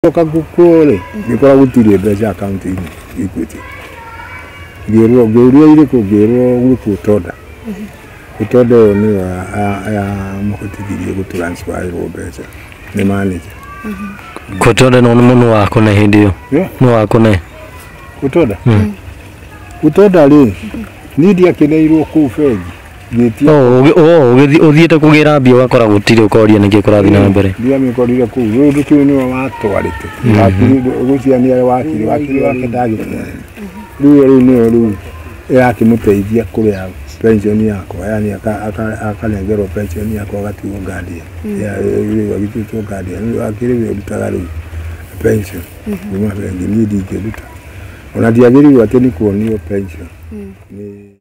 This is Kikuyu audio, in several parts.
Ndoka gũkũ rĩ ngĩkora gũtirĩ mbeca akaunti-inĩ Equity ngĩrwo ngĩũria irĩkũ ngĩrwo gũkũ tonda tonda ĩyo nĩyo ya- ya- yamũhotithirie gũturansfaĩrwo mbeca nĩ manager Kutonda no nĩ wakũne hĩndĩ ĩyo Yeah. nĩ wakũne gũtonda gũtonda rĩ niĩ ndiakeneirwo kũu bengi ngĩtia Oh, ũgĩ- oh, ũgĩthi- ũthiĩte kũgĩra mbia ũgakora gũtirĩ ũkoria nĩkĩ kũrathiĩ na mbere mbia mĩkorire kũu rĩu ndũkĩũĩ nĩwe watwarĩte wakiri gũcia nĩ arĩ wakiri wakiri wake ndagĩtwarĩte rĩu ĩyo rĩu nĩyo rĩu ĩrakĩmũteithia kũrĩa pension yakwa yani aka- aka- akarengerwo pension yakwa agatigwo guardian Ya- rĩu agĩtuĩtwo guardian rĩu akĩrĩ wĩ ũrutaga rĩu pension kuma bengi niĩ ndingĩruta ona ndiagĩrĩirwo atĩ nĩ kuonio pension Nĩ-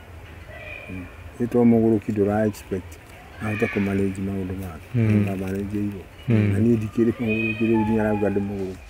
Nĩ to mũgũrũki ndũra expect ahote kũ manage maũndũ make. Mm. Na manage igo. Mm. Na niĩ ndikĩrĩ mũgũrũki rĩu nginya arauga ndĩ mũgũrũki.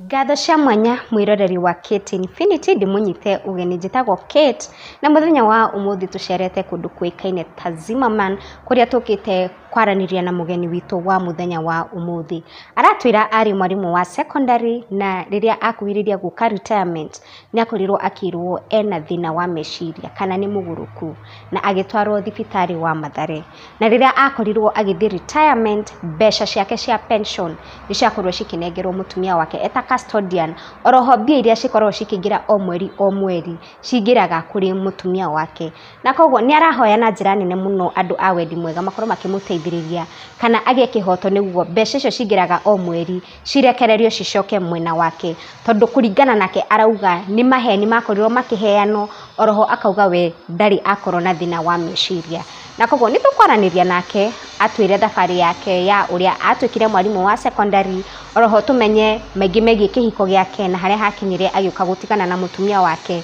Ngatho cia mwanya mwĩroreri wa Kate Infinity ndĩmũnyite ũgeni njĩtagwo Kate na mũthenya wa ũmũthĩ tũcerete kũndũ kũĩkaine ta Zimmerman kũrĩa tũkĩte kwaranĩria na mũgeni witũ wa mũthenya wa ũmũthĩ. Aratwĩra arĩ mwarimũ wa secondary na rĩrĩa akuhĩrĩirie gũka retirement nĩ akorirwo akĩrwo ena thĩna wa meciria kana nĩ mũgũrũku na agĩtwarwo thibitarĩ wa Mathare. Na rĩrĩa akorirwo agĩthiĩ retirement mbeca ciake cia pension nĩ ciakorirwo cikĩnengerwo mũtumia wake eta custodian. Oro ho mbia iria cikoragwo cikĩingĩra o mweri o mweri cingĩraga kũrĩ mũtumia wake. Na koguo nĩ arahoya na njĩra nene mũno andũ a wendi mwega makorwo makĩmũteithĩrĩria kana agĩe kĩhoto nĩguo mbeca icio cingĩraga o mweri cirekererio cicoke mwena wake. Tondũ kũringana nake arauga nĩ maheni makorirwo makĩheanwo oro ho akauga we ndarĩ akorwo na thĩna wa meciria. Na koguo nĩ tũkwaranĩria nake atwĩre thabarĩ yake ya ũrĩa atuĩkire mwarimũ wa secondary, oro ho tũmenye maingĩ megiĩ kĩhiko gĩake na harĩa hakinyire agĩũka gũtigana na mũtumia wake.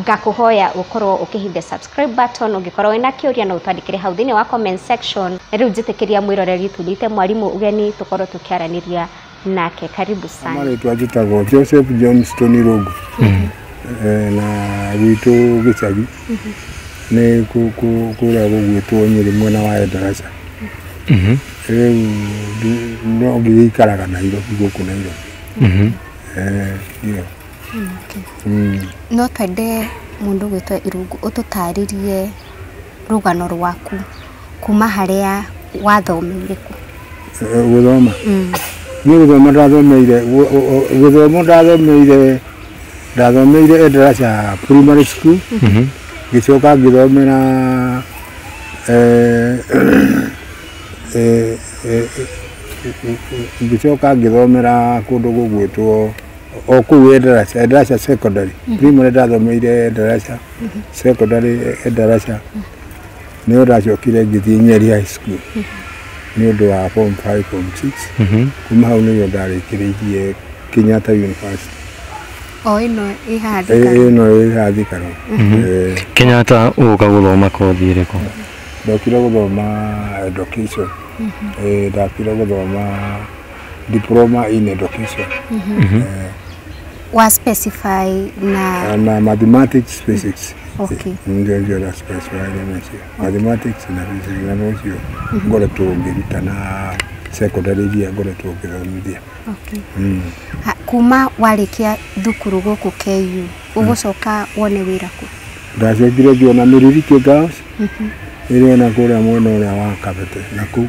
ngakũhoya ũkorwo ũkĩhithia subscribe button ũngĩkorwo wĩna kĩũria no ũtwandĩkĩre hau thĩinĩ wa comment section na rĩu njĩtĩkĩria mwĩroreri tũnyite mwarimũ ũgeni tũkorwo tũkĩaranĩria nake karibu sana marĩtwa njĩtagwo joseph john stony rogu Eh, na gwitũ gĩcagi nĩ kũ- kũ- kũrĩa gũgwĩtwo nyĩrĩ mwena wa endaraca rĩu ndi- no ngĩgĩikaraga nairobi gũkũ nairobi Eh, ndio No twende mũndũ ũgwĩtwo Irungu ũtũtarĩrie rũgano rwaku kuma harĩa wathomeire kũ. Gũthoma? Niĩ gũthoma ndathomeire, gĩthomo ndathomeire, ndathomeire Endarasha Primary School, ngĩcoka ngĩthomera ngĩcoka ngĩthomera kũndũ gũgwĩtwo o kũu Endarasha, Endarasha secondary primary ndathomeire Endarasha secondary Endarasha nĩ ndacokire ngĩthiĩ Nyeri high school nĩ ũndũ wa form 5 form 6 kuma hau nĩguo ndarĩkĩrĩirie Kenyatta University o ĩno ĩ haha Ĩ- thikara ĩno ĩ haha Thikaro Eh, Kenyatta ũka gũthoma kothi ĩrĩkũ ndokire gũthoma education Eh, ndokire gũthoma diploma in education Eh, wa specify na na mathematics physics Okay. ndio ndio na specify na hiyo mathematics na physics na hiyo ngora tuongeruta na secondary dia ngora tuongerithia okay. Ha, kuma warĩkia thukuru gũkũ KU ũgũcoka wone wĩra kũ ndacokire ngiona mĩriri kĩgaos ĩrĩ ona kũrĩa mwena ũrĩa wa kabete na kũu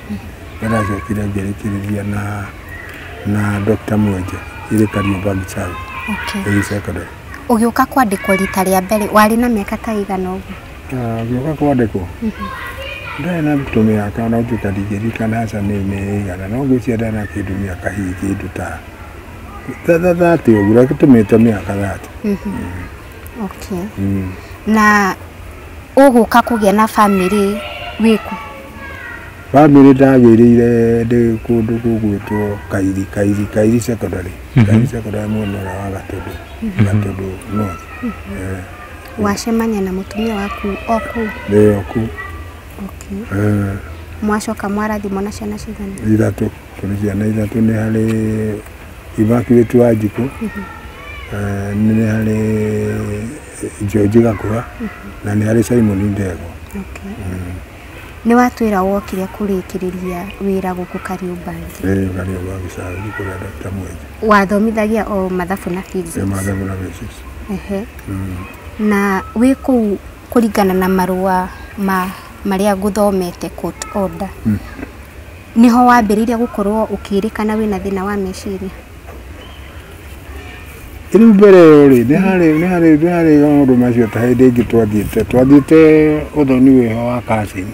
Ndĩracokire ngĩrĩkĩrĩria na na Dr. Mwenje ĩrĩ Kariobangi South okay. ĩrĩ secondary. Ũgĩũka kwandĩkwo rita rĩa mbere warĩ na mĩaka ta igana ũguo? Ah, ngĩũka kwandĩkwo mhm. ndarĩ na ndutũ mĩaka no njuka ndingĩririkana aca nĩ nĩ igana no ngwĩciria ndarĩ na kĩndũ mĩaka hihi kĩndũ ta thathatĩ ũguo reke tũmĩte mĩaka thatĩ. Mhm. Mm. Okay. Mm. Na ũgũka kũgĩa na bamĩrĩ wĩku? Bamĩrĩ ndagĩrĩire ndĩ kũndũ gũgwĩtwo Kairi, Kairi, Kairi secondary, mhm. Kairi secondary mwena ũrĩa wa Gatũndũ, mhm. Gatũndũ north. Eh. Wacemania na mũtumia waku oku? Nĩ oku. Okay. Eh. Mwacoka mwarathimwo na ciana cigana? Ithatũ, tũrĩ ciana ithatũ, nĩ harĩ Immaculate Wanjikũ, mhm. eh, nĩ harĩ George Gakũra, na nĩ harĩ Simon Ndegwa. Okay. Mm. Nĩwatwĩra wokire kũrĩkĩrĩria wĩra gũkũ Kariũmbangi. Ĩĩ Kariũmbangi sir, thiĩ kũrĩa Doctor Mwenje. Wathomithagia o mathabu na physics? Ĩĩ mathabu na physics. Ehe. Mm. Na wĩ kũu kũringana na marũa ma marĩa ngũthomete court order. Mm. Nĩho wambĩrĩirie gũkorwo ũkĩrĩkana wĩna thĩna wa meciria? rĩu mbere ĩyo rĩ nĩ harĩ nĩ harĩ nĩ harĩ maũndũ macio ta hĩndĩ ĩngĩ twathiĩte twathiĩte ũthoni wĩho wa kacini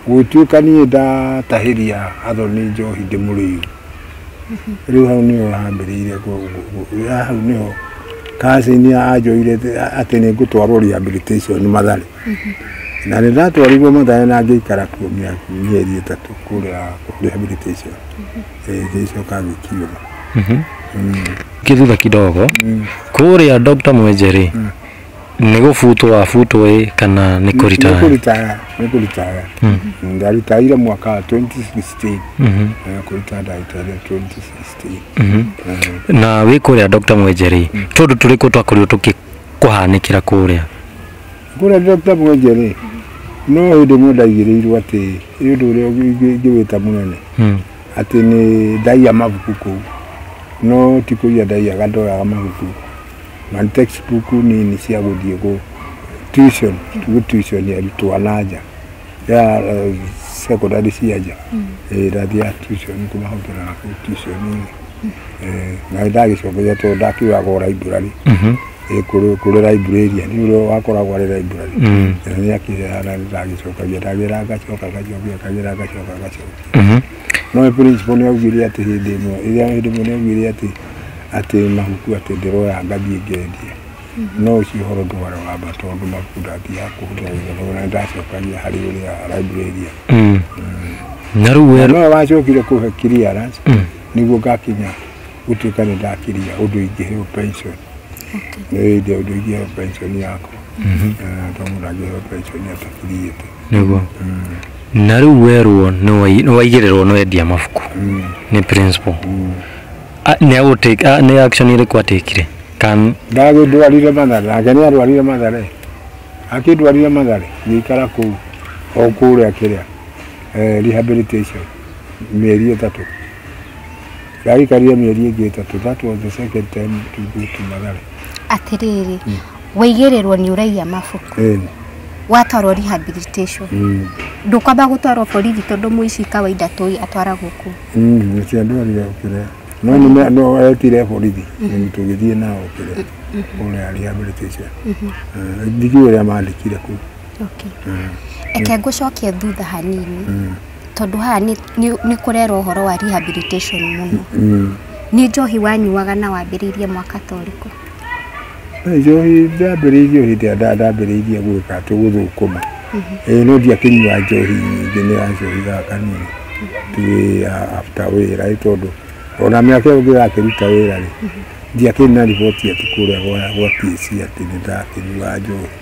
gũtuĩka niĩ ndatahĩria athoni njohi ndĩmũrĩu rĩu hau nĩho hambĩrĩire kũ- kũ- kũ- hau nĩho kacini anjoire atĩ nĩ ngũtwarwo rehabilitation mathare na nĩ ndatwarirwo mathare na ngĩikara kuo mĩaka- mĩeri ĩtatũ kũrĩa rehabilitation gĩcoka gĩkiuma Ningĩ thutha kidogo kũrĩa Dr. Mwenje rĩ nĩ gũbutwo wabutwo ĩ kana nĩ kũrita nĩkũritaya nĩkũritaya ndaritaire mwaka wa 2016 na kũrita ndaritaire 2016 na wĩ kũrĩa Dr. Mwenje rĩ tondũ tũrĩkũ twakorirwo tũkĩkũhanĩkĩra kũrĩa Kũrĩa Dr. Mwenje rĩ, no hĩndĩ ĩmwe ndaigĩrĩirwo atĩ nĩ ũndũ ũrĩa ingĩwĩta mũnene hmm. atĩ nĩ ndaiya mabuku kũu no ti kũiya ndaiyaga ndoyaga mabuku na textbook nini cia gũthiĩ gũ tuition gũ tuition arutwo a na nja ya eh, secondary cia nja Eh, ndathiaga tuition kuma hau tũrana kũu tuition-inĩ Eh, na ndagĩcokeria tondũ ndakiugaga o library Eh, kũrĩ kũrĩ librarian nĩ ũrĩa wakoragwo arĩ library Mm. na nĩ akĩheana ndagĩcokagia ndagĩra ngacoka ngacokia kagĩra ngacoka ngacokia no principal nĩ augire atĩ hĩndĩ ĩmwe ĩrĩa hĩndĩ ĩmwe nĩ augire atĩ atĩ mahuku atĩ ndĩroya ngathiĩ ngendie no ũcio ũhoro ndwara wamba tondũ mabuku ndathiaga kũhũthĩra gũthoma na ndacokania harĩ ũrĩa library Mm. na rĩu we no wacokire kũhe clearance nĩguo ngakinya gũtuĩka nĩ ndakiria ũndũ ingĩheo pension nĩ hĩndĩ ũndũ ingĩheo pension yakwa Eh, tondũ mũndũ angĩheo pension atakiriĩte nĩguo na rĩu werwo nĩ wai- nĩ waigĩrĩrwo nĩ wendia mabuku nĩ principal Ah, nĩ agũtake ah, nĩ action ĩrĩkũ atekire kan ndagĩndwarire mathare nake nĩ arwarire mathare akĩndwarire mathare ngĩikara kũu o kũrĩa kĩrĩa eh, rehabilitation mĩeri ĩtatũ ndagĩkarire mĩeri ĩngĩ ĩtatũ that was the second time to go to mathare atĩrĩrĩ waigĩrĩrwo nĩ ũraiya mabuku Eh, watwarwo rehabilitation mm. ndũkwamba gũtwarwo borithi tondũ mũici kawaida tũĩ atwaragwo kũ Mm, nĩkĩo andũ arĩa okire no nĩme- no etire borithi mm, tũgĩthiĩ nao okire ũrĩa rehabilitation Eh, ndikiũĩ ũrĩa mandĩkire kuu Okay. Eke ngũcokie thutha hanini tondũ haha nĩ- nĩ nĩ kũrerwo ũhoro wa rehabilitation mũno. Mm. Nĩ njohi wanyuaga na wambĩrĩirie mwaka ta ũrĩkũ? Njohi ndambĩrĩirie hĩndĩ ĩrĩa ndambĩrĩirie gwĩka atĩ gũthũkũma ĩĩ no ndiakĩnyua njohi nyingĩ nĩ ya njohi ya kanini tu ya after wĩra ĩ tondũ ona mĩaka ĩyo ngĩgakĩruta wĩra rĩ ndiakĩrĩ na riboti atĩ kũrĩa gwa gwa TSC atĩ nĩ ndakĩnyua njohi.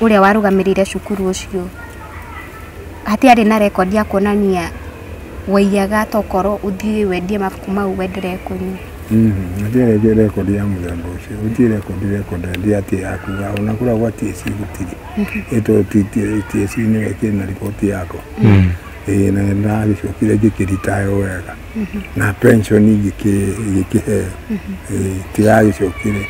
ũrĩa warũgamĩrĩire cukuru ũcio hatiarĩ na record ya kuonania waiyaga ta ũkorwo ũthiĩ wendie mabuku mau wendere kũnyua. Hatiarĩ record ya mũthemba ũcio, gũtirĩ record record hĩndĩ atĩ yakuga ona kũrĩa gwa TSC gũtirĩ. Ĩtwo TSC nĩwe ĩkĩrĩ na riboti yakwa. Ĩĩ na nĩndagĩcokire ngĩkĩritaya o wega. na pension igĩkĩhe tiragĩcokire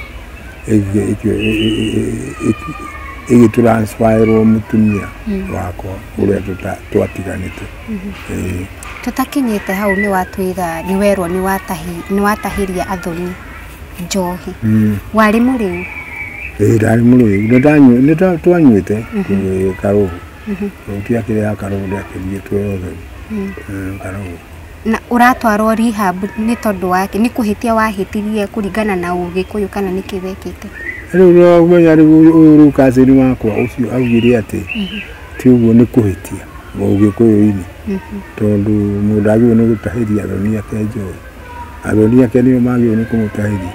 ĩgĩ transfer ĩrwo mũtumia wakwa ũrĩa twatiganĩte tũtakinyĩte hau nĩ watwĩra nĩ werwo nĩ watahĩria athoni njohi warĩ mũrĩu ndarĩ mũrĩu nĩ twanyuĩte karũgũ mahuti akĩrĩa akarũndi akĩriĩtwo yothe karũũ na ũratwarwo rehab nĩ tondũ wake nĩ kũhĩtia wahĩtirie kũringana na ũgĩkũyũ kana nĩkĩ wekĩte rĩu no ũmenya rĩu ũyũ ũyũ rĩu kacĩni wakwa ũcio augire atĩ ti ũguo nĩ kũhĩtia mũgĩkũyũ-inĩ tondũ mũndũ agĩrĩirwo nĩ gũtahĩria athoni ake njohi athoni ake nĩo magĩrĩirwo nĩ kũmũtahĩria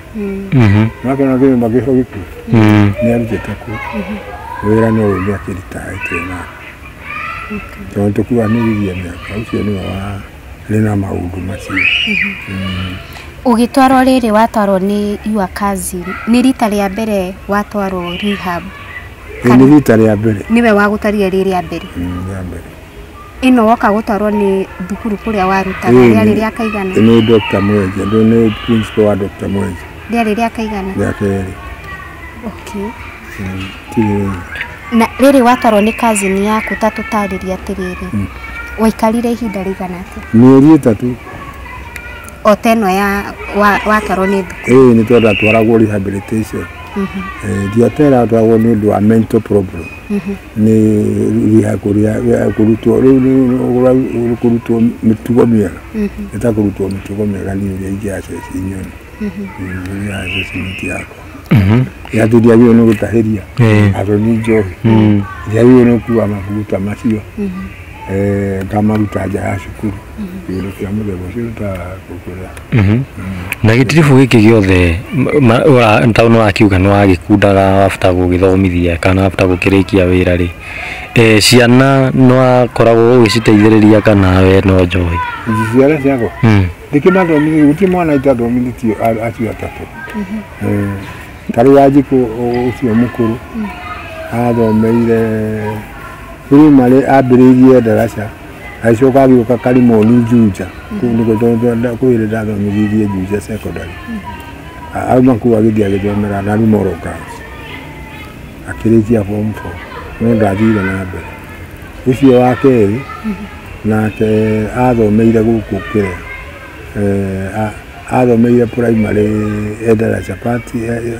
nake na kĩrĩma gĩco gĩkuo nĩ arutĩte kuo wĩra no ũyũ nĩ akĩritaĩte nake tondũ tũkuanĩrithia mĩaka ũcio nĩwe warĩ na maũndũ macio Ũgĩtwarwo rĩrĩ watwarwo nĩ your cousin, nĩ rita rĩa mbere watwarwo rehab? Ĩĩ nĩ rita rĩa mbere Nĩwe wagũtarire rĩrĩa mbere? Mm, rĩa mbere Ĩno woka gũtwarwo nĩ thukuru kũrĩa warutaga Ĩĩ, rĩarĩ nĩ- rĩa kaigana nĩ Dr. Mwenje ndũ nĩ principal wa Dr. Mwenje rĩarĩ rĩa kaigana rĩa kerĩ okay. Tirĩ- na rĩrĩ watwarwo nĩ cousin yaku ta tũtarĩria atĩrĩrĩ waikarire ihinda rĩigana atĩa mĩeri ĩtatũ o ta ĩno ya wa- watwarwo nĩ thukuru ĩĩ nĩ twendatwaragwo rehabilitation Eh, ndiatera atwaragwo nĩ ũndũ wa mental problem nĩ rĩha kũrĩa rĩa kũrutwo rĩu nĩ- nĩ- ũrau- nĩ kũrutwo mĩtugo mĩega ĩtakũrutwo mĩtugo mĩega niĩ ũrĩa ingĩaceci nyone ũrĩa aceci mĩtĩ yakwa yatũ ndiagĩrĩirwo nĩ gũtahĩria Eh. athoni njohi ndiagĩrĩirwo nĩ gũkua mabuta macio eh, ngamaruta nja ya cukuru kĩndũ kĩa mũthemba ũcio ũtaga kũkũrĩa na gĩtiribũ gĩkĩ gĩothe ma- ma- wa- ta nĩ wakiuga nĩ wagĩkundaga wabata gũgĩthomithia kana wabata gũkĩrĩkia wĩra rĩ Eh, ciana nĩ wakoragwo ũgĩciteithĩrĩria kana we no njohi ciara ciakwa Mm. ndikĩmathomithie gũtirĩ mwana itathomithĩtio a- acio atatũ Eh, ta rĩu wanjikũ ũcio mũkũrũ athomeire rĩu marĩ ambĩrĩirie ndaraca agĩcoka agĩũka karimoni njunja kũu nĩkuo tondũ kũu ĩrĩ ndathomithirie njunja secondary A- auma kũu agĩthiĩ agĩthomera na ruma orokas akĩrĩkia form four no ndathire na mbere ũcio wa kerĩ nake athomeire gũkũ kĩrĩa eh, a- athomeire primary endara chapati eh, eh,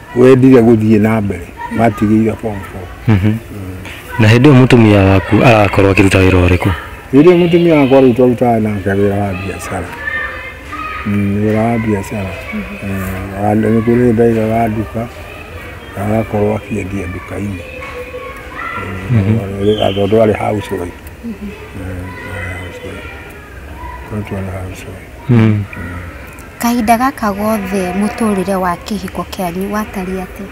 wendire gũthiĩ na mbere watigĩire form four Mhm. na hĩndĩ ĩyo mũtumia waku arakorwo akĩruta wĩra ũrĩkũ rĩrĩa mũtumia wakwa rĩu twarutaga nake wĩra wa biacara Mm, wĩra wa biacara Eh, wa- nĩ kũrĩ ndaiga wa nduka na agakorwo akĩendia nduka-inĩ Eh, tondũ arĩ house wife. Eh, arĩ house wife. Tondũ arĩ house wife. Mm. Kahinda gaka gothe mũtũrĩre wa kĩhiko kĩanyu watariĩ atĩa?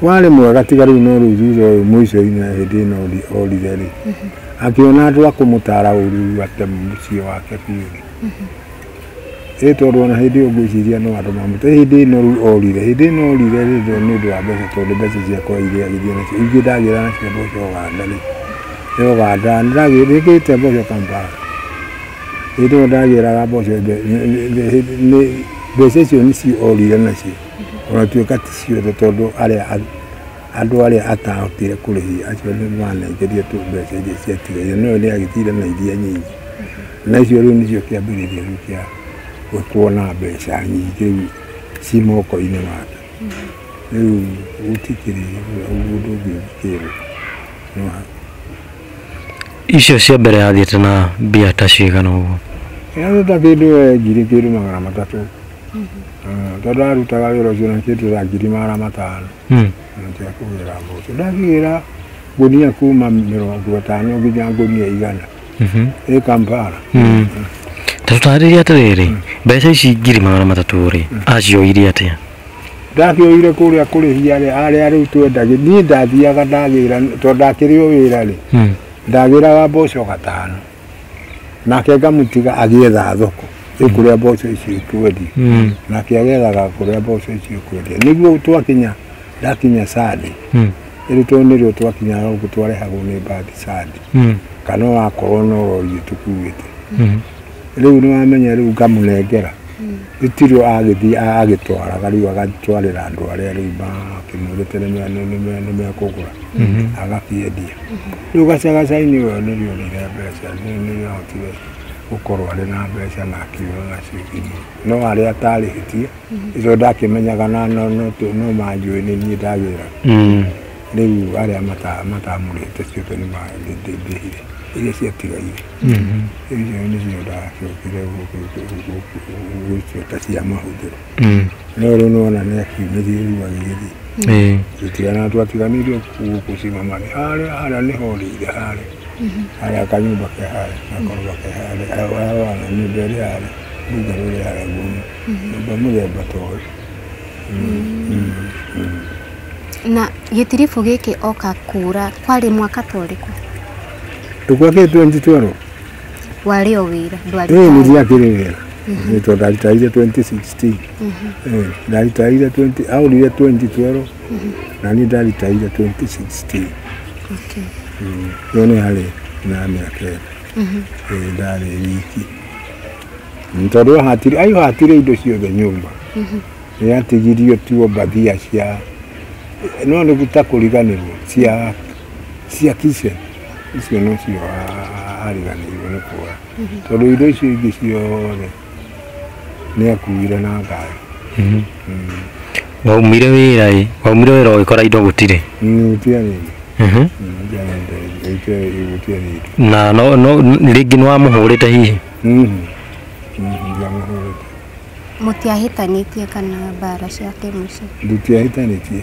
Warĩ mwega tiga rĩu no rĩu thutha ũyũ mũico-inĩ na hĩndĩ ĩno orire rĩ, akĩona andũ a kũmũtara ũru rĩu ate mũciĩ wake biũ rĩ. Ĩ tondũ ona hĩndĩ ĩyo ngwĩciria no andũ mamũte hĩndĩ ĩno rĩu orire. Hĩndĩ ĩno orire rĩ nĩ ũndũ wa mbeca tondũ mbeca ciakwa iria agĩthiĩ nacio ingĩ ndagĩra nacio mboco Ũganda rĩ, e Ũganda nĩndagĩte mboco Kampala. hĩndĩ ĩyo ndagĩraga mboco mbeca icio nĩcio orire nacio ona tuĩka ti ciothe tondũ arĩa andũ arĩa atahotire kũrĩhia acio nĩ manengerio tu mbeca iria ciatigaire no nĩ agĩtire na iria nyingĩ na icio rĩu nĩcio kĩambĩrĩria rĩu kĩa kuona mbeca nyingĩ ci moko-inĩ make rĩu gũtikĩrĩ ũndũ ũngĩ ũngĩkĩrwo. Icio cia mbere yathiĩte na mbia ta cigana ũguo? Yathiĩte kĩndũ ngiri kĩndũ magana matatũ mm, tondũ ndarutaga wĩra ũcio na kĩndũ ta ngiri magana matano mm. nĩkĩo kũgĩra mboco ndakĩgĩra ngũnia kuma mĩrongo ĩtano nginya ngũnia igana mhm. ĩ Kampala mm. ta tũtarĩria atĩrĩrĩ mbeca ici ngiri magana matatũ rĩ acioire atĩa ndakĩoire kũrĩa kũrĩ hiarĩ arĩa rĩu twendagi niĩ ndathiaga ndagĩra tondũ ndakĩrĩ o wĩra rĩ hmm. ndagĩraga mboco gatano nake ngamũtiga agĩetha thoko rĩu kũrĩa mboco icio ikwendia hmm. nake agethaga kũrĩa mboco icio ikwendia nĩguo twakinya ndakinya sande hmm. rĩu tondũ nĩrĩo twakinyaga ũguo twarehagwo nĩ mbagi sande kana wakorwo no rori ĩtũkuĩte rĩu nĩ wamenya rĩu ngamũnengera itirũ agĩthiĩ a- agĩtwaraga rĩu agatwarĩra andũ arĩa rĩu makĩmwĩrĩte nĩ me- nĩ- nĩ me- nĩ mekũgũra agakĩendia rĩu gacagacainĩ ũyo nĩrionire mbeca nĩ- nĩahotire gũkorwo arĩ na mbeca na akiura nacio imwe no arĩa atarĩhĩtie icio ndakĩmenyaga na no- no tũ- no manjũĩ nĩ niĩ ndagĩra Mm. rĩu arĩa mata- matamũrĩhĩte ciothe nĩmandĩhire iria ciatigaire icio nĩcio ndacokire gwĩciota cia mahũthĩro no rĩu nona nĩ akiumĩrie rĩu agĩgĩthiĩ tũtigana twatiganĩirio gũkũ cimamani harĩa harĩa nĩho rĩire harĩa harĩa kanyũmba ke harĩa gakorwa ke harĩa harĩa wana nyũmba ĩrĩ harĩa runga rũrĩ harĩa gumu nyũmba mũthemba ta ũyũ na gĩtiribũ gĩkĩ oka kura kwarĩ mwaka ta ũrĩkũ tukwa ke 2012 warĩ o wĩra ndwarĩ ĩĩ nĩ ndiakĩrĩ wĩra nĩ tondũ ndaritaire 2016 Eh, ndaritaire 20 aurire 2012 na niĩ ndaritaire 2016 Okay. yo nĩ harĩ na mĩaka ĩna ĩĩ ndarĩ wiki Nĩ tondũ ahatire ayo hatire indo ciothe nyũmba Nĩatigirio tu Obadia cia no nĩ ta kũriganĩrwo cia cia kice icio nĩcio ariganĩirwo nĩ kuoya tondũ indo icio ingĩ ciothe nĩ akuire na ngari mm. waumire wĩra ĩ waumire wĩra ũgĩkora indo gũtirĩ gũtiarĩire mhm. na no rĩngĩ nĩ wamũhũrĩte hihi mm-hmm. Mm-hmm. Mũtiahĩtanĩtie kana mbara cia kĩmũciĩ. Tũtiahĩtanĩtie.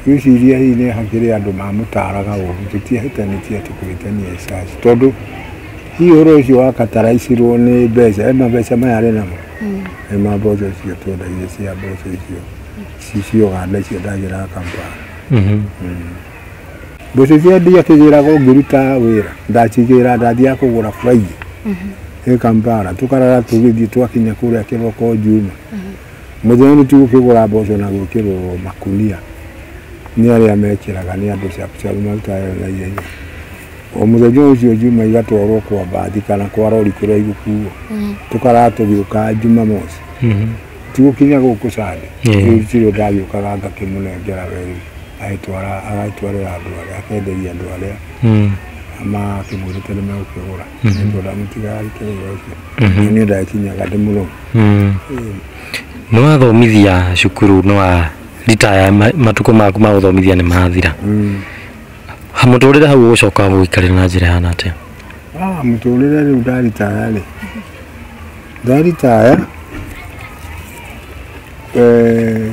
Ngwĩciria hihi nĩ hakĩrĩ andũ mamũtaaraga ũũru. Tũtiahĩtanĩtie atĩ kũhĩtania ĩ caci. Tondũ hihi ũhoro ũcio wa kataraicirwo nĩ mbeca, he mabeca maya arĩ namo, nĩ ma mboco icio twendagia cia mboco icio ci cia ũganda icio ndagĩraga Kampala. mbeca iria ndiakĩgĩraga ũngĩruta wĩra ndakigĩra ndathiaga kũgũra baigĩ ĩ kampala tũkarara tũgĩthiĩ twakinya kũrĩa kĩroko njuma mũthenya nĩ tũgũkĩgũra mboco na gwĩkĩrwo makunia nĩ arĩa mekĩraga nĩ andũ cabucabu marutaga wĩra na ihenya o mũthenya ũcio njuma igatwarwo kwa mbathi kana kwa rori kũrĩa igũkuo tũkarara tũgĩũka jumamosi tigukinya gũkũ sande Ĩĩ. rĩu ndirĩ ndagĩũkaga ngakĩmũnengera weri agĩtwara agagĩtwarĩra andũ arĩa akenderia andũ arĩa mm. makĩmwĩrĩte nĩ megũkĩgũra mm. nĩ tondũ amũtiga arike wĩra ũcio mm-hmm. nĩ ũndũ akinyaga ndĩ mũrũmu mm. nĩ wathomithia cukuru nĩ wa ritaya matukũ maku ma gũthomithia nĩ mathira mm. mũtũrĩre hau ũgũcoka gũikarĩra na njĩra hana atĩa ah, mũtũrĩre rĩu ndaritaya rĩ ndaritaya eh,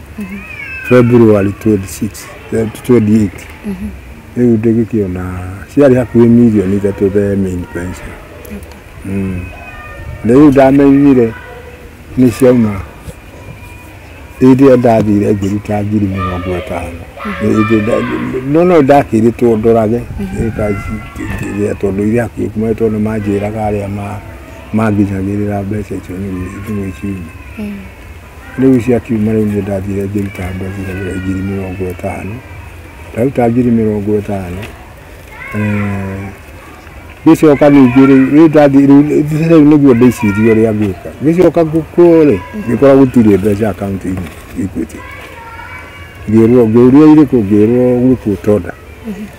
February 26 eh, 28 rĩu ndĩgĩkĩona ciarĩ hakuhĩ mirioni ithatũ the main pension Mm. na rĩu ndamenyire nĩ ciauma ĩrĩa ndathire ngĩruta ngiri mĩrongo ĩtano Ĩndĩ nda- no no ndakĩrĩtwo ndorage ĩka- ĩrĩa tondũ iria hakuhĩ kuma tondũ manjĩraga arĩa ma- manginyagĩrĩra mbeca icio nĩ- nĩ gwĩciria Rĩu ici akiuma rĩu niĩ ndathire ngĩruta andũ a Thiragĩra ngiri mĩrongo ĩtano ndaruta ngiri mĩrongo ĩtano eh, gĩcoka ningĩ rĩu rĩu ndathi rĩu rĩu nĩguo ndĩcirie ũrĩa ngwĩka gĩcoka ngũkwo rĩ ngĩkora gũtirĩ mbeca akaunti-inĩ Equity ngĩrwo ngĩũria irĩkũ ngĩrwo gwĩkwo tonda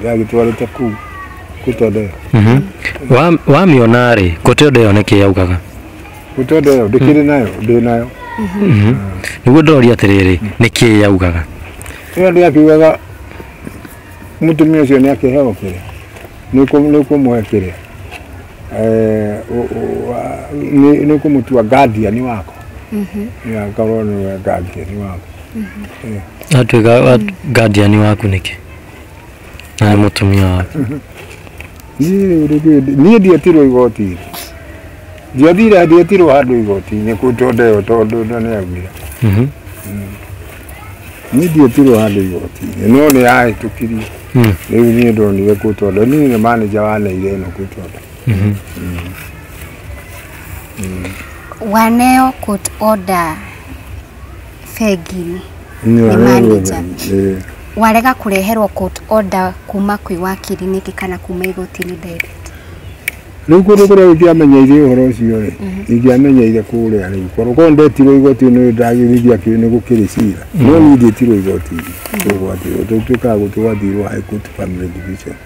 ndagĩtwarĩte kuu gũtondeo Mhm. Wa- wamĩona rĩ kote ũndũ ĩyo nĩkĩ yaugaga gũtondeo ndĩkĩrĩ nayo ndĩ nayo Mhm. nĩguo ndoria atĩrĩrĩ nĩkĩ yaugaga ĩyo ndĩ akiugaga mũtumia ũcio nĩ akĩheo kĩrĩa nĩ ũkũmũhe kĩrĩa Eh, ũ- ũ- wa- nĩ nĩ ũkũmũtua guardian wako nĩ akorwo nĩwe guardian wako atuĩka wa- guardian waku nĩkĩ na nĩ mũtumia waku niĩ rĩngĩ ndi- niĩ ndiatirwo igoti-inĩ ndiathire ndiatirwo handũ igoti-inĩ kũ tondũ ĩyo tondũ na nĩ agwira Mhm. niĩ ndiatirwo handũ igoti-inĩ no nĩ yahĩtũkirie Mm. rĩu niĩ ndonire kũ tondũ niĩ nĩ manager wa neire ĩno kũ tondũ Mhm. waneo court order bengi-inĩ nĩ manager Eh, warega kũreherwo court order kuma kwĩ wakiri nĩkĩ kana kuma igoti-inĩ direct rĩu kũndũ kũrĩa ingĩamenyeire ũhoro ũcio rĩ ingĩamenyeire kũrĩa rĩu korwo korwo ndetirwo igoti nĩ ndagĩrithia kĩu nĩ gũkĩrĩ cira no niĩ ndietirwo igoti tũgwatirwo tũtuĩkaga gũtũgwatirwo high court family division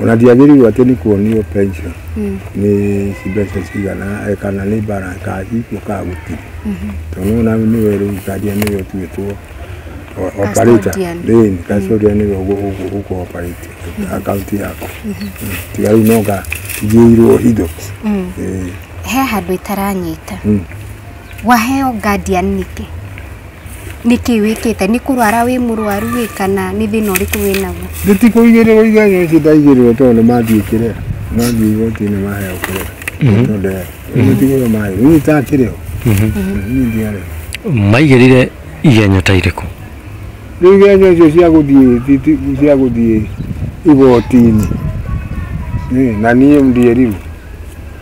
Ona ndiagĩrĩirwo atĩ nĩ kuonio pension nĩ mbeca cigana eh, kana nĩ bara ka iko ka gũtirĩ tondũ ona nĩwe rĩu karia nĩwe ũtuĩtwo o- operator Custodian. Ĩĩ, nĩ custodian nĩwe ũgũ- ũgũ- ũgũ operate akaunti yakwa Mm, tiga rĩu no nga njiyĩirwo indo Ĩĩ. he handũ itaranyita Mm. Waheo guardian nĩkĩ? Nĩkĩ wĩkĩte? Nĩ kũrwara wĩ mũrwaru ĩ kana nĩ thĩna ũrĩkũ wĩ naguo? Gĩtikũigĩrĩrwo iganya ici ndaigĩrĩrwo tondũ nĩ mathiĩ kĩrĩa mathiĩ igoti-inĩ maheo kĩrĩa tondũ gĩtigĩrĩrwo marĩ niĩ itakĩrĩ ho niĩ ndiarĩ ho maigĩrĩire igenyo ta irĩkũ rĩu iganya icio cia gũthiĩ ti- ti- cia gũthiĩ igoti-inĩ Ĩ, na niĩ ndiĩrirwo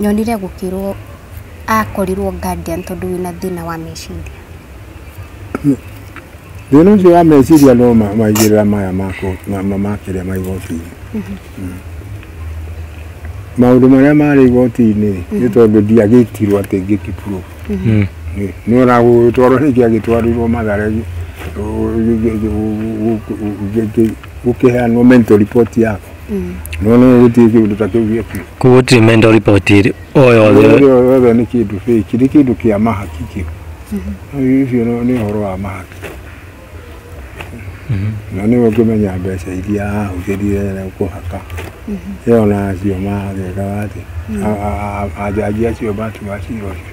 Nyonire gũkĩrwo akorirwo guardian tondũ wĩna thĩna wa meciria. Thĩna ũcio wa meciria no maigĩrĩra maya makĩrĩa ma igoti-inĩ. Mhm. Maũndũ marĩa marĩ igoti-inĩ mhm. nĩ tondũ ndiagĩtirwo atĩ ngĩkipuro. Mhm. Nĩ ona gũgĩtwarwo nĩkĩ agĩtwarirwo mathare gũkĩheanwo mental report yako nona nĩ gũtirĩ kĩndũ ta kĩu gĩakinya koguo gũtirĩ mental report ĩrĩ o yothe yothe nĩ kĩndũ fake nĩ kĩndũ kĩa mahaki kĩu Rĩu ũcio nĩ- nĩ ũhoro wa mahaki na nĩwe ũngĩmenya mbeca iria ahũthĩrire na kũhaka ĩyo na acio mageka atĩ A- a- a- ajaji acio matua cira ũcio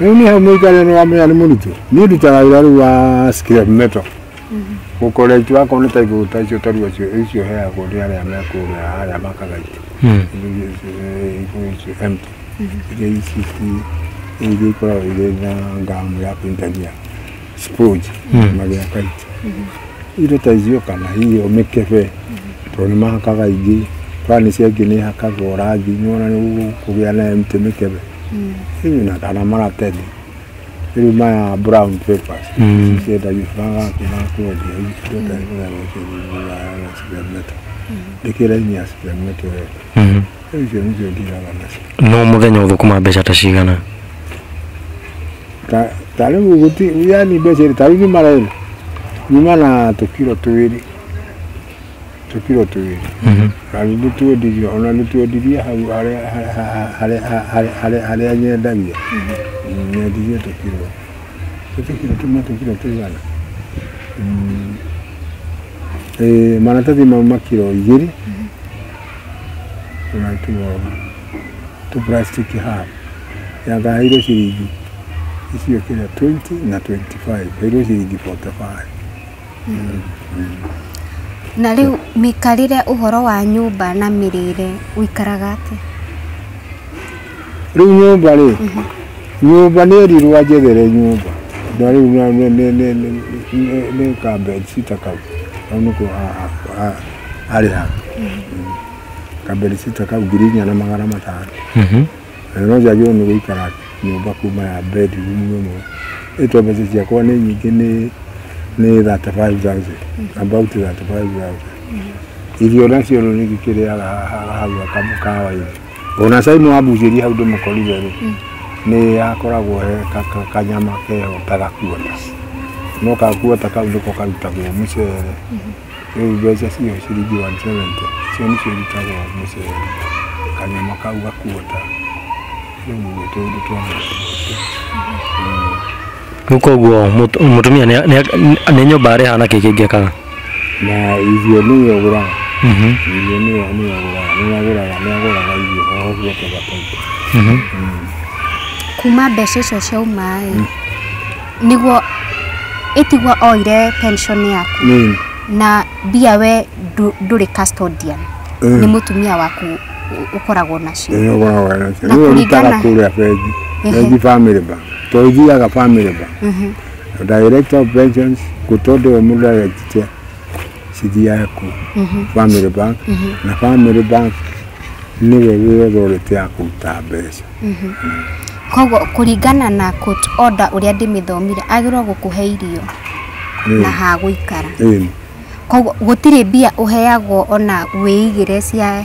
Rĩu niĩ hau mũikarĩre nĩ wamenya nĩ mũritũ niĩ ndutaga wĩra rĩu wa scrap metal gũkora itu akorwo nĩ ta igũrũ ta icio tarua icio heagwo nĩ arĩa mekũrĩa arĩa makaga itu igũrũ icio empty iria ici iria ikoragwo irĩ na ngamu ya kũingania sponge na gĩa kaiti indo ta icio kana hiyo mĩkebe tondũ nĩ mahakaga ingĩ burani cia ingĩ nĩ hakagwo rangi nĩ wona nĩ kũgĩa na mĩtĩ mĩkebe hihi na kana maratathi rĩu maya brown papers ciendagio bagakiga kwendia indo ta icio na cigametwo ndĩkĩra-inĩ ya cigametwo wega Icio nĩcio ndiraga nacio. no mũthenya ũthũkũma mbeca ta cigana Ta- ta rĩu gũti yani mbeca ĩrĩ ta rĩu nyuma rĩrĩ nyuma na tũkiro twĩrĩ tũkiro twĩrĩ Mhm. na nĩ twendirie ona nĩ twendirie hau harĩa harĩa- harĩa- harĩa- harĩa- harĩa nyendagia nyendirie tũkiro Nĩ tũkiro tũmwe tũkiro tũigana Mm. Eh, maratathi mau makiro igĩrĩ tũgatuoga tũ plastic haha yagaĩirwo ciringi icio kĩrĩa 20 na 25 kairwo ciringi 45 mm. mm. na rĩu mĩkarĩre ũhoro wa nyũmba na mĩrĩre ũikaraga atĩa rĩu nyũmba rĩ mhm. nyũmba nĩ erirwo anjethere nyũmba na rĩu nĩ ka bed sita kau kau nĩko arĩ ha kamberisita kau ngiri inya na magana matano Mhm. na no njagĩrĩirwo nĩ gũikara nyũmba kuma ya bedroom ĩmwe ĩtwo mbeca ciakwa nĩ nyingĩ nĩ nĩ 35000 about 35000 irio nacio rĩu nĩngĩkĩrĩaga haha hau kamũkawa-inĩ ona cai nĩwambucĩria hau ndĩmũkorire rĩ nĩ hakoragwo he ka- ka- kanyama keho ta gakuota no gakuota kau nĩko karutagwo mũcere Rĩu mbeca ciyo ciringi 170 cio nĩcio irutagwo mũceri, kanyama kau ga quarter. Rĩu nĩ tũũndũ twa mũndũ ũcio. Rĩu koguo mũtu- mũtumia nĩ- nĩ- nĩ nyũmba arĩha na kĩ kĩngĩ kaga Na irio nĩyo ũgũraga, Mhm, irio nĩyo nĩyo ũgũraga, nĩyo agũraga, nĩyo agũraga irio o ũguo tũgataithia. mhm. kuma mbeca icio ciauma-ĩ nĩguo ĩtigwo oire pension yaku Mm. na mbia we ndũ- ndũrĩ custodian Mm. nĩ mũtumia waku ũ- ũkoragwo nacio Nĩ ũkoragwo nacio. Na Nĩ ũrutaga kũringana- kũrĩa bengi. Ehe. Bengi family bank. To ũthiaga family bank. Mhm. Direct of pensions, go to the director. cidi yaku mhm. family bank mhm. na family bank niwe wi authority ya kuruta mbeca mhm. mm. koguo kuringana na court order uria ndimithomire agirwo gukuhe irio na ha guikara koguo gutire mbia uheagwo ona wiigire cia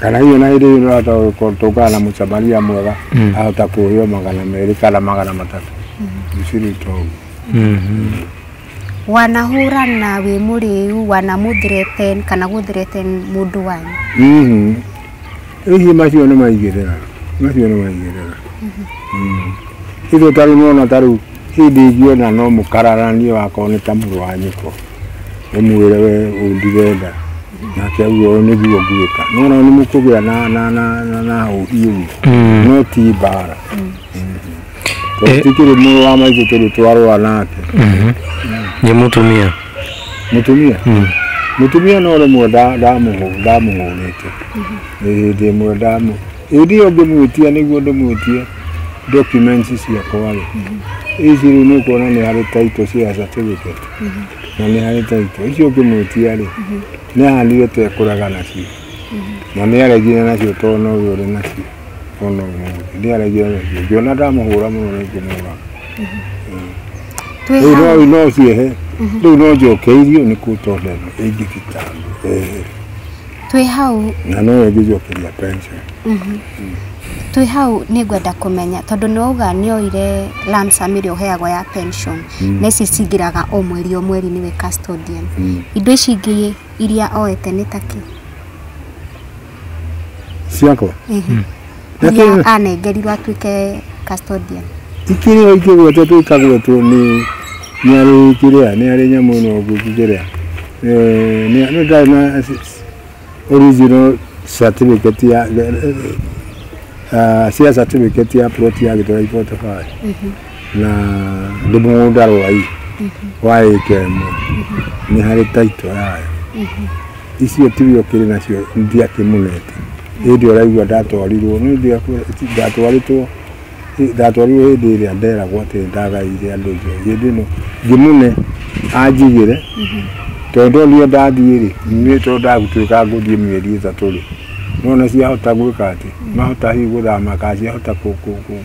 kana hihi ona hĩndĩ ĩyo nĩũrahota gũko- tũngana na mũsamaria mwega Mm. ahota kũheo magana merĩ kana magana matatũ mshiri togu wanahũra na wĩ mũrĩu wanamũthireten kana gũthireten mũndũ wanyu Mhm. hihi macio nĩ maigĩrĩra macio nĩ maigĩrĩra ithuĩ tarĩu nĩwona tarĩu Hĩndĩ ingiona no mũkararanie wakorwo nĩ ta mũrũ wa nyũkwa ũmwĩre we ũndirenda nake auge ũũ nĩguo ngwĩka nona nĩ mũkũgĩa na na na na na ũhiũ no ti mbara tondũ tikĩrĩ mũrũ wa maitũ tũrĩ twarũa nake nĩ mũtumia mũtumia mũtumia no rĩmwe nda- ndamũhũ- ndamũhũrĩte Ĩ, hĩndĩ ĩmwe ndamũ Hĩndĩ ĩyo ngĩmwĩtia nĩguo ndĩmwĩtie documents ciakwa-rĩ, ici rĩu nĩ ũkuona nĩ harĩ title cia certificate na nĩ harĩ title. Icio ngĩmwĩtia-rĩ, nĩ ahandire ta ekũrega nacio na nĩ aregire nacio tondũ no we ũrĩ nacio o na ũmũthĩ. Nĩ aregire nacio, ngĩona ndamũhũra mũno nĩ ngũmũraga. Twĩ Rĩu hau. no no ũciehe, rĩu no njokeirio nĩ court order ĩno ĩngĩthitangwo. Ehe. twĩ hau na no yo ngĩcokeria pension twĩ hau nĩ ngwenda kũmenya tondũ nĩ wauga nĩ oire lump sum ĩrĩa ũheagwo ya pension na ici cingĩraga o mweri o mweri nĩwe custodian indo ici ingĩ iria oete nĩ ta kĩ ciakwa iria anengerirwo atuĩke custodian ikĩrĩ o ikĩgwete twĩkagwo tu nĩ nĩ arĩ kĩrĩa nĩ arĩ nyamũ ĩno ũguo kĩrĩa Eh, nĩ nĩ ndarĩ na s- s- original certificate ya eh, eh, ah, cia certificate ya plot ya gĩtũra ibotobari na ndĩ mũgũnda rwai wa ĩka ĩmwe nĩ harĩ taito yayo icio tirio kĩrĩ nacio ndiakĩmunete hĩndĩ ũraigua ndatwarirwo nĩ hĩndĩ ĩrĩa ndatwaritwo ndatwarirwo hĩndĩ ĩrĩa nderagwo atĩ ndagaire andũ icio hĩndĩ ĩno ngĩmune anjigĩre tondũ onire ndathiĩ rĩ nĩ tondũ ndagũtuĩka ngũthiĩ mĩeri ĩtatũ rĩ nona ciahota gwĩka atĩ mahota hihi gũthama kana ciahota kũ- kũ- kũ-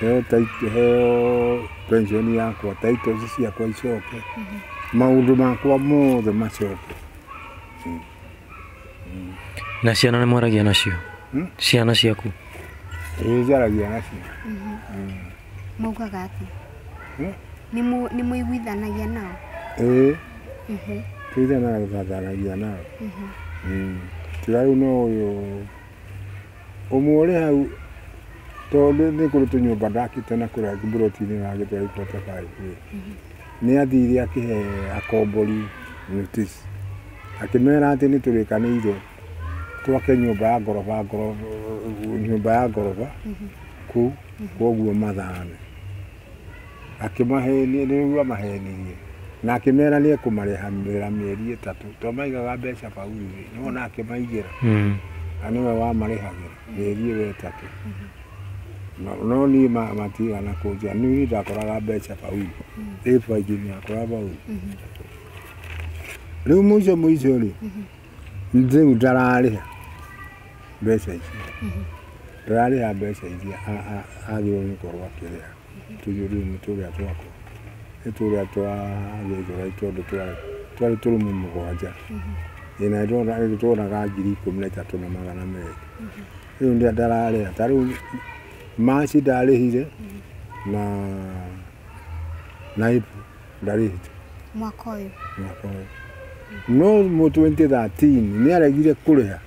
heo title- heo pension yakwa titles ciakwa icoke maũndũ makwa mothe macoke na ciana nĩ mwaragia nacio Hmm? ciana ciaku ĩnjaragia nacio maugaga atĩ Hmm? nĩ mũ- nĩ mũiguithanagia nao ĩĩ Mhm. tũithanaga tũgathanagia nao tiga rĩu no ũyũ Ũmwe ũrĩ hau tondũ nĩ kũrĩ tũnyũmba ndakĩte na kũrĩa mburoti-inĩ na agĩtwara ibata baĩ kuo nĩ athire akĩhe akombori notice akĩmera atĩ nĩ tũrĩkanĩire twake nyũmba ya ngoroba nyũmba ya ngoroba kũu koguo mathame akĩmahenia, nĩguo amahenirie, na akĩmera nĩ ekũmarĩhamĩra mĩeri ĩtatũ, to maigaga mbeca baururĩ, nĩwona akĩmaigĩra, Mm. na nĩwe wamarĩhagĩra mĩeri ĩyo ĩtatũ. No- No niĩ ma- matigana kũnjĩra, niĩ ndakoraga mbeca bauru, ĩ bengi-inĩ yakwa ya bauru. Rĩu mũico mũico-rĩ, Rĩu ndararĩha mbeca icio, ndararĩha mbeca iria a- a- agĩrĩirwo nĩ gũkorwo akĩrĩha. Tuge rĩu nĩ tũrĩa twakwa, nĩ tũrĩa twa Gĩthũrai tondũ twarĩ twarĩ tũrumu mũgwanja, ĩĩ na nĩtwo- nĩtwonaga ngiri ikũmi na ithatũ na magana merĩ. Rĩu nda- ndararĩha, ta rĩu March ndarĩhire na na April. na rĩhĩ mwaka ũyũ mwaka ũyũ no mu 2013 nĩ aregire kũrĩha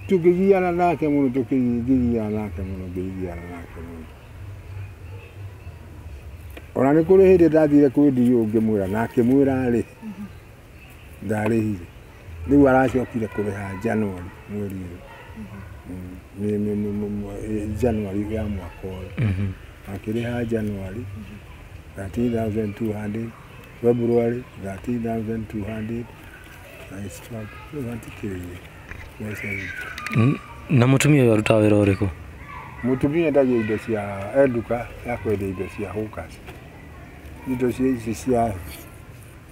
tũkĩgiana nake mũno tũkĩgiana nake mũno ngĩgiana nake mũno ona nĩ kũrĩ hĩndĩ ndathire kwĩ ndiũ ngĩmwĩra na akĩmwĩra rĩ ndarĩhire rĩu aracokire kũrĩha January mweri ũyũ Mm, nĩ- nĩ- nĩ- nĩ- mwe- eh, January ya mwaka ũyũ Mhm. akĩrĩha January 13200 February 13200 na it's twelve. Rĩu hatikĩrĩ mbeca icio. N- na mũtumia ũyũ arutaga wĩra ũrĩkũ mutumia endagia indo cia enduka ya kwendia indo cia hukas indo cia ici cia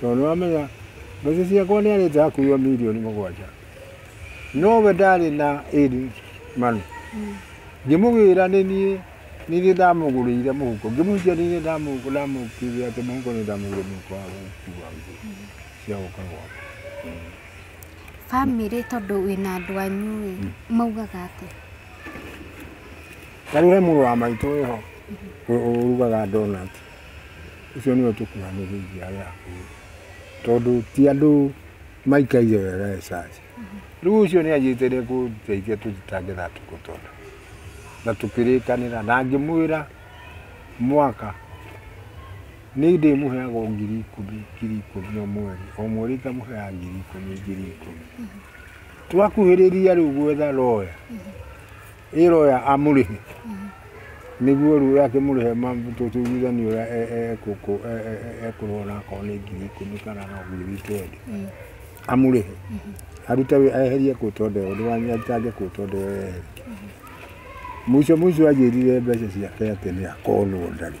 Tondũ nĩwamenya mbeca ciakwa nĩarĩte hakuhio mirioni mũgwanja no we ndarĩ na ĩri manu ngĩmũgĩra nĩ niĩ nĩ niĩ ndamũgũrĩire mũhuko ngĩmũhikia nĩ niĩ ndamũ- ndamũkire atĩ mũhuko nĩ ndamũgũrĩire mũhuko wa gũkua nguo cia gũka gwakwa Bamĩrĩ tondũ wĩna andũ anyu ĩ, maugaga atĩa? tarĩu he mũrũ wa maitũ wĩho ũrugaga ndonati Ũcio nĩwe ũtũkuhanĩrĩirie arĩa akuũ, tondũ ti andũ maikaire wega e church. Rĩu ũcio nĩ anjĩte nĩ ekũndeithia tũthitange na tũkũtona. Na tũkĩrĩkanĩra na ngĩmwĩra mwaka nĩ ndĩmũheaga o ngiri ikũmi ngiri ikũmi o mweri, o mweri ngamũheaga ngiri ikũmi ngiri ikũmi. Twakuhĩrĩria rĩu gwetha lawyer, Ĩ roya amũrĩhe nĩguo rĩu akĩmũrĩhe tũtuithanie ũrĩa e- e- ekũkũ- e- e- e- ekũrĩhwo na akorwo nĩ ngiri ikũmi kana no ngiri wikendi amũrĩhe arute wĩ- eherie kũtwo ndeo ndĩwanyitange kũtwo ndeo eherie mũico mũico anjĩrire mbeca ciake atĩ nĩ akorwo ndarĩ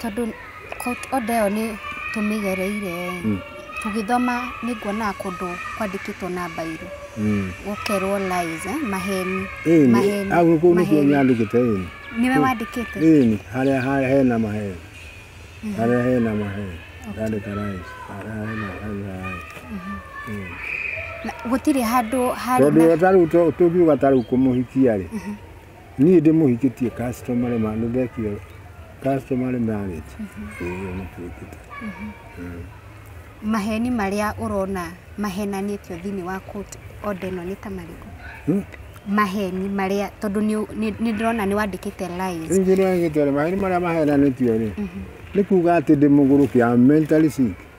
Tondũ order ĩyo nĩ tũmĩgereire ĩ, tũgĩthoma nĩ nguonaga kũndũ kwandĩkĩtwo na mbairũ gũkerwo lies ĩ, maheni, Ĩni, maheni, hau kũu nĩkuo maheni. nyandĩkĩte ĩni. Nĩwe wandĩkĩte? Ĩni, harĩa harĩa hena maheni. Harĩa hena maheni. Ndandĩka rais. Harĩa hena hena rais. Ĩni. Na gũtirĩ handũ harĩ Tondũ na- o ta rĩu tũ- tũngiuga ta rĩu kũmũhikia-rĩ, Niĩ ndĩmũhikĩtie customary ma nĩ ndekire customary marriage. Ĩĩ nĩ twĩkĩte. Maheni marĩa ũrona mahenanĩtio thĩinĩ wa court order ĩno nĩ ta marĩkũ? Hmm? Maheni marĩa tondũ nĩ ũ- nĩ- nĩ ndĩrona nĩ wandĩkĩte lies. Rĩu kĩrĩa gĩtore maheni marĩa mahenanĩtio rĩ nĩ kuga atĩ ndĩ mũgũrũki am mentally sick.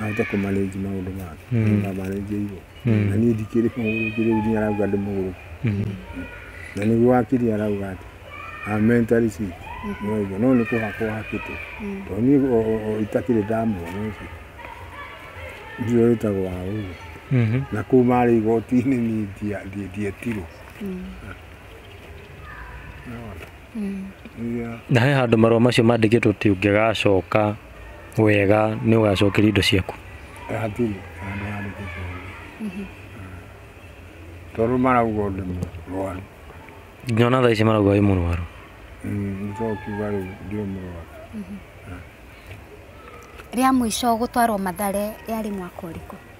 ahota kũmarenji maũndũ make mm. na marenji igo mm. na niĩ ndikĩrĩ kũngĩrĩ nginya arauga ndĩ mũgũrũ mm. na nĩguo wakiri arauga atĩ amentari ci noigo no nĩ kũhakwo hakĩtwo to niĩ itakĩrĩ ndamuona ũcio ndio wĩtagwo wa ũguo mm-hmm. na kũu marĩ igoti-inĩ niĩ ndietirwo Yeah. na he handũ marũa macio mandĩkĩtwo ti ũngĩgacoka wega nĩ ũgacokeria indo ciaku Eh, hatirĩ handũ handĩkĩtwo ũguo. tondũ marauga ũndũ mũrwaru nyona thaa ici marauga wĩ mũrwaru nĩtokiuga rĩu ndiũ mũrwaru rĩa mũico gũtwarwo mathare yarĩ mwaka ũrĩkũ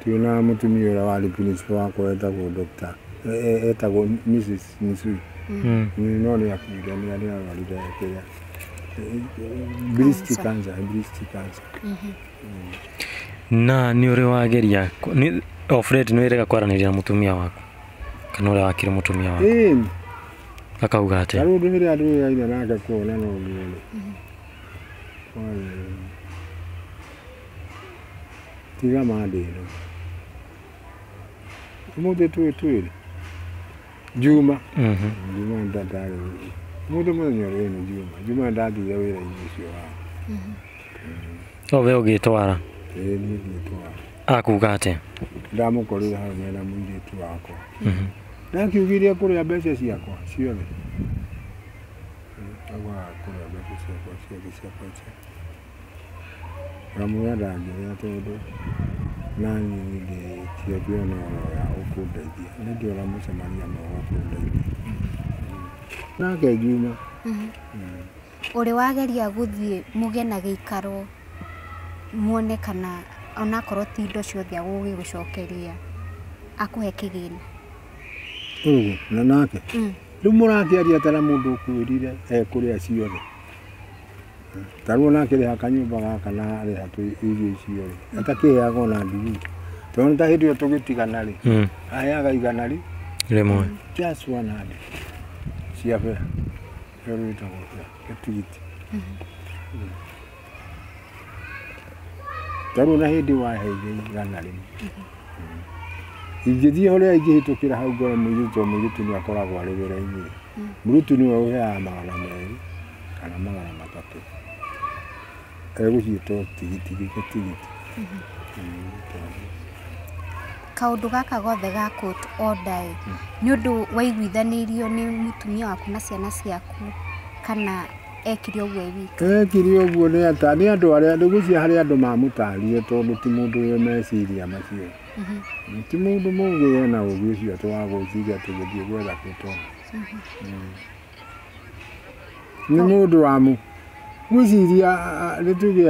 Twĩna mũtumia ũrĩa warĩ principal wakwa wetagwo Dr. e- e- etagwo Mrs. Misui Mm. Mm, no nĩ akuire nĩ arĩa arwarire kĩrĩa breast Cancer. cancer breast cancer na nĩ ũrĩ wageria kũ- nĩ- o fred nĩ wĩrega kwaranĩria na mũtumia waku kana ũrĩa wakire mũtumia waku Ĩĩ, akauga atĩa tarĩu ũndũ rĩrĩa ndĩraire nake kuona no guo-rĩ Tiga ma thĩ ĩno. Ũmũthĩ twĩ twĩrĩ. Juma. Mhm. Juma ndatarĩ wĩra. Mũndũ mũthenya ũrĩa nĩ Juma. Juma ndathire wĩra-inĩ ũcio wa. Mhm. No we ũgĩtwara. Ĩĩ niĩ ngĩtwara. Akuga atĩa? Ndamũkorire hau mena mũirĩtu wakwa. Mhm. Ndakiugire kũrĩa mbeca ciakwa ciothe. Agwa kũrĩa mbeca ciakwa ciothe ciakwa ciakwa. Ngamwĩra ndangĩrĩa tondũ naniĩ ndingĩona na oro ya gũkũndeithia. Nĩ ndĩũga mũcemanio na ũgakũndeithia. Nake ngiuma. Ũrĩ wageria gũthiĩ mũgĩe na gĩikaro muone kana onakorwo ti indo ciothe agũgĩgũcokeria akũhe kĩgĩna. Ũguo, na nake? Rĩu mũrakĩaria ta mũndũ ũkwĩrire ekũrĩa ciothe. tarwo nake rĩha kanyũmba gaka na rĩha irio icio rĩ atakĩheaga ona ndugu tondũ ta hĩndĩ ĩyo tũgĩtigana rĩ hmm. aheaga igana rĩ rĩmwe just one hand cia bera ĩyo rĩtagwo bera gatigiti tarwo na hĩndĩ waheire igana rĩmwe ingĩthiĩ ũrĩa ingĩhĩtũkĩra hau ngore mũirĩtu mũirĩtu nĩ akoragwo arĩ wĩra-inĩ mũirĩtu nĩwe ũheaga magana merĩ kana magana matatũ egũciĩtwo tigiti gĩkĩ tigiti kaũndũ gaka gothe ga court order ĩ nĩ ũndũ waiguithanĩirio nĩ mũtumia waku na ciana ciaku kana ekire ũguo e wiki ekire ũguo nĩ ata nĩ andũ arĩa nĩ gũcia harĩ andũ mamũtarire tondũ ti mũndũ wĩ meciria macio ti mũndũ mũgĩ ena ũgĩ ũcio atĩ wa gwĩciria atĩ gũthiĩ gwetha kũtwara nĩ mũndũ wa mu gwĩciria nĩ tuge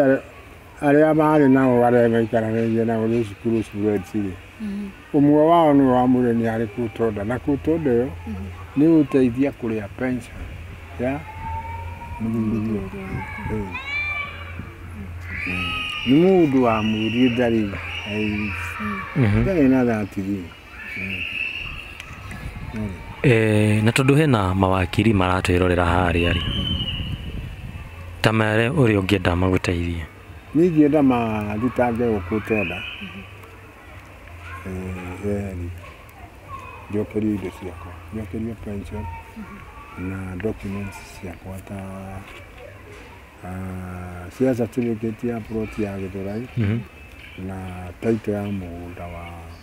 arĩa maarĩ nao arĩa maikaranagia nao nĩ cukuru students rĩ ũmwe wao nĩ wamwĩre nĩ arĩ kũtonda na kũtonda ĩyo nĩ gũteithia kũrĩa pension ya mũthuri nĩ mũndũ wa mũri ndarĩ ndarĩ na that rĩ Eh, na tondũ hena mawakiri maratwĩrorera harĩa rĩ ta mere ũrĩa ũngĩenda magũteithie Niĩ ingĩenda marutange gũkũ tenda Eh, reri njokerio indo ciakwa njokerio pension na documents ciakwa ta ah, cia certificate ya plot ya Gĩthũrai na title ya mũgũnda wa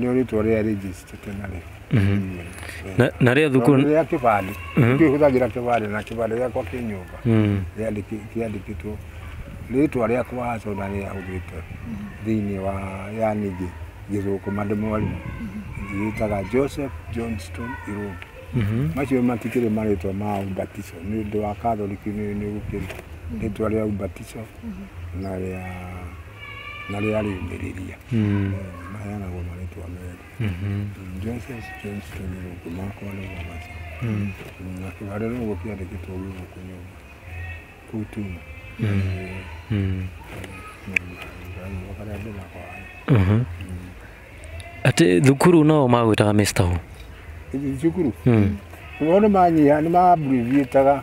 nĩo rĩtwa rĩa rĩnjĩcitĩte narĩo Mhm. Na- na rĩa Tondũ thukuru rĩa kĩbandĩ Mhm. ithuĩ hũthagĩra kĩbandĩ na kĩbandĩ gĩakwa kĩ nyũmba Mm. Rĩandĩki- kĩandĩkĩtwo rĩtwa rĩakwa haco na rĩahũthĩte thĩinĩ wa yani ngĩ- ngĩthũkũma ndĩ mwarimũ ngĩgĩtaga joseph johnston irungu Mhm. macio matikĩrĩ marĩtwa ma ubatiso nĩ ũndũ wa katholiki nĩ nĩ gũkĩrĩ rĩtwa rĩa ubatiso na rĩa na rĩa rĩũmĩrĩria mm. maheanagwo marĩtwa merĩ mm-hmm. mm, Joseph James Kĩnyũrũngũ makwa nĩ Mwabaca mm. na kĩbarĩ rũgũ kĩandĩkĩtwo guo kũnyũmba kũu tuma karĩa ndĩnako mm-hmm. atĩ thukuru no magwĩtaga Mr. Who thukuru wao nĩ manyiha nĩ maamburiviĩtaga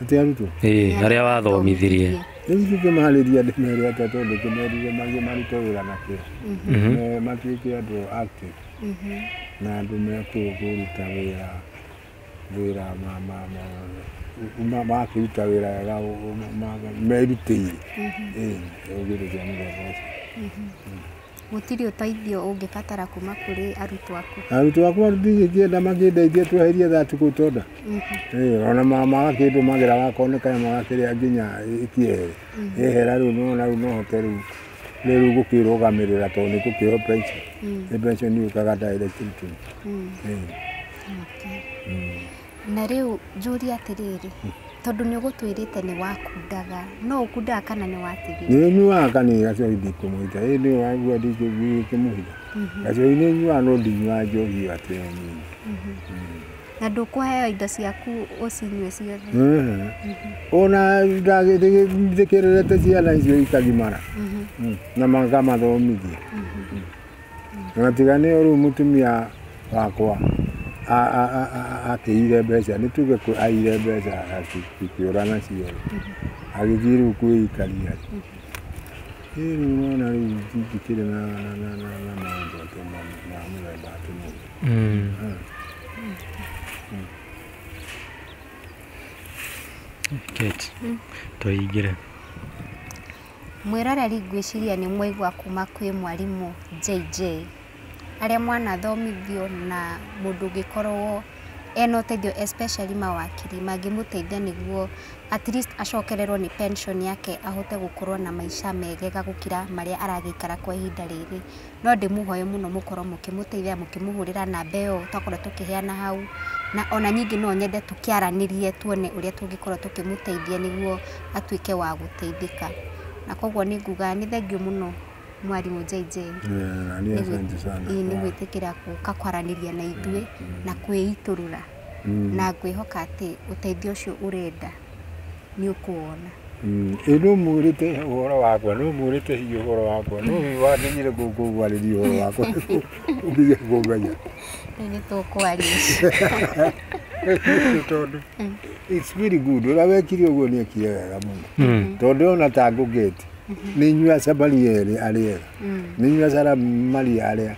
atĩ arutwo ĩĩ arĩa wathomithirie rĩu ithuĩ tũmarĩria andũ merĩ atatũ ũndũ tũmerire magĩ marute wĩra na kĩo Me- matuĩke andũ ati na andũ mekũũ kũruta wĩra wĩra ma- ma- ma- ma- makĩruta wĩra wega ũ- ũ- ma- ma- merutĩire Ĩĩ, ũgĩrĩria mũthemba ũcio Gũtirĩ ũteithio ũngĩbatara kuma kũrĩ arutwo aku. Arutwo akwa ndingĩkĩenda makĩndeithie tweherie that kũu tonda. Ĩĩ, ona ma- magakĩndũmagĩra wakorwo nĩ kanyama gakĩrĩa nginya kĩere. Yehera rĩu nĩwona rĩu no hote rĩu nĩ rĩu gũkĩrũgamĩrĩra tondũ nĩ gũkĩo pension. Nĩ pension yũkaga direct to me. Ĩĩ. Okay. Na rĩu njũrie atĩrĩrĩ, tondũ nĩ ũgũtwĩrĩte nĩ wakundaga, no ũkundaga kana nĩ watigire? Nĩ nyuaga kana gacori ndikũmũhitha, ĩ nĩ waigua ndikũmũhitha? Mhm. Gacori nĩ nyuaga no ndinyuaga njohi ĩyo atĩ ĩyo nyingĩ. Mhm. Mm. Na ndũkũheo indo ciaku ũcinyue ciothe? Mhm. Ona ndagĩthikĩrĩrĩte ciana icio ikagimara mhm. mm. na mangamathomithia. Na tiga nĩ ũrĩu mũtumia wakwa akĩire mbeca nĩ tuge aire mbeca akĩũra nacio agĩthiĩ rĩu kwĩikaria rĩu nĩwona rĩu ndingĩkĩrĩ na maũndũ atĩ ma mũthemba atĩ mũndũ Kate, tũingĩre. Mwĩroreri ngwĩciria nĩ mwaigua kuma kwĩ mwarimũ JJ, harĩa mwanathomithio na mũndũ ũngĩkorwo ena ũteithio especially mawakiri mangĩmũteithia nĩguo at least acokererwo nĩ pension yake ahote gũkorwo na maica megega gũkĩra marĩa aragĩikara kwa ihinda rĩrĩ. No ndĩmũhoe mũno mũkorwo mũkĩmũteithia mũkĩmũhũrĩra namba ĩyo twakorwo tũkĩheana hau, na ona ningĩ no nyende tũkĩaranĩrie tuone ũrĩa tũngĩkorwo tũkĩmũteithia nĩguo atuĩke wa gũteithĩka. Na kogwo nĩ nguga nĩ thengiũ mũno mwarimũ JJ nĩ gwĩtĩkĩra gũka kwaranĩria na ithuĩ na kwĩitũrũra na ngwĩhoka atĩ ũteithio ũcio ũrenda. nĩ ũkũwona. Mm, ĩ nũ mwĩrĩte ũhoro wakwa nũ mwĩrĩte hihi ũhoro wakwa nũ wakinyire gũkũ gwarĩria ũhoro wakwa ũtige kũnganya Rĩu nĩ tũkwaria Nĩ tondũ it's very good ũrĩa wekire ũguo nĩ ekire wega mũno tondũ ona ta ngũgeti nĩ inyuĩ acamari erĩ arĩa ega nĩ inyuĩ acara maria arĩa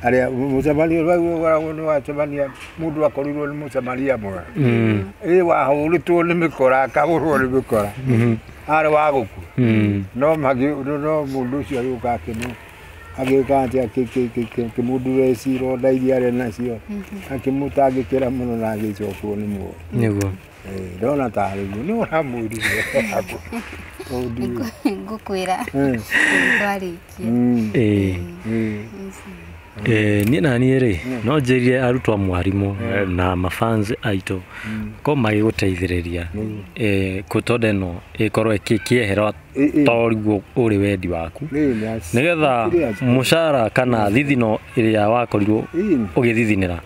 arĩa mũcamaria ũrĩa ũkoragwo nĩ wacamania mũndũ akorirwo nĩ mũcamaria mwega Mm. ĩ wahũrĩtwo nĩ mĩkora akagũrwo nĩ mĩkora Mhm. arĩ wa gũkua Mm. no magĩ no mũndũ ũcio agĩũka akĩmũ agĩũka atĩ akĩmũndura ĩcira iria arĩ nacio akĩmũtangĩkĩra mũno na agĩcokwo nĩ mũndũ nĩguo ndona tarĩ guo nĩ ũramwĩrire ngũkwĩra twarĩkia niĩ na niĩ rĩ no njĩrire arutwo a mwarimũ na mafans aitũ ko magĩgũteithĩrĩria kũtonda ĩno ĩkorwo ĩkĩehera toriguo ũrĩ wendi waku nigetha mucara kana thithino ĩrĩa wakorirwo ũgĩthithinĩra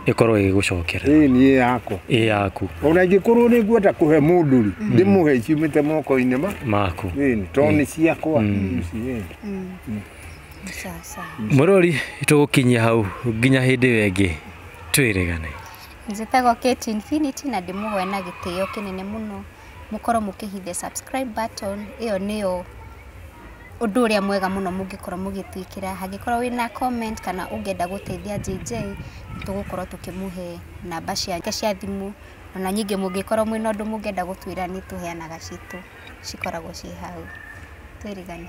ĩkorwo ĩgĩgũcokera ĩĩ niĩ yakwa ĩ yaku ona ingĩkorwo nĩ ngwenda kũhe mũndũ rĩ ndĩmũhe ciumĩte moko-inĩ ma maku ĩĩ tondũ nĩ ciakwa ici, ĩĩ. Sawa sawa. mũrori tũgũkinyia hau nginya hĩndĩ ĩyo ĩngĩ twĩrĩgane Njĩtagwo Kate Infinity na ndĩmũhoya na gĩtĩo kĩnene mũno. mũkorwo mũkĩhit the subscribe button, ĩyo nĩyo ũndũ ũrĩa mwega mũno mũngĩkorwo mũgĩtwĩkĩra, hangĩkorwo wĩna comment kana ũngĩenda gũteithia JJ, nĩ tũgũkorwo tũkĩmũhe namba ciake cia thimũ, ona ningĩ mũngĩkorwo mwĩna ũndũ mũngĩenda gũtwĩra nĩ tũheanaga citũ cikoragwo ciĩ hau. Twĩrĩgane.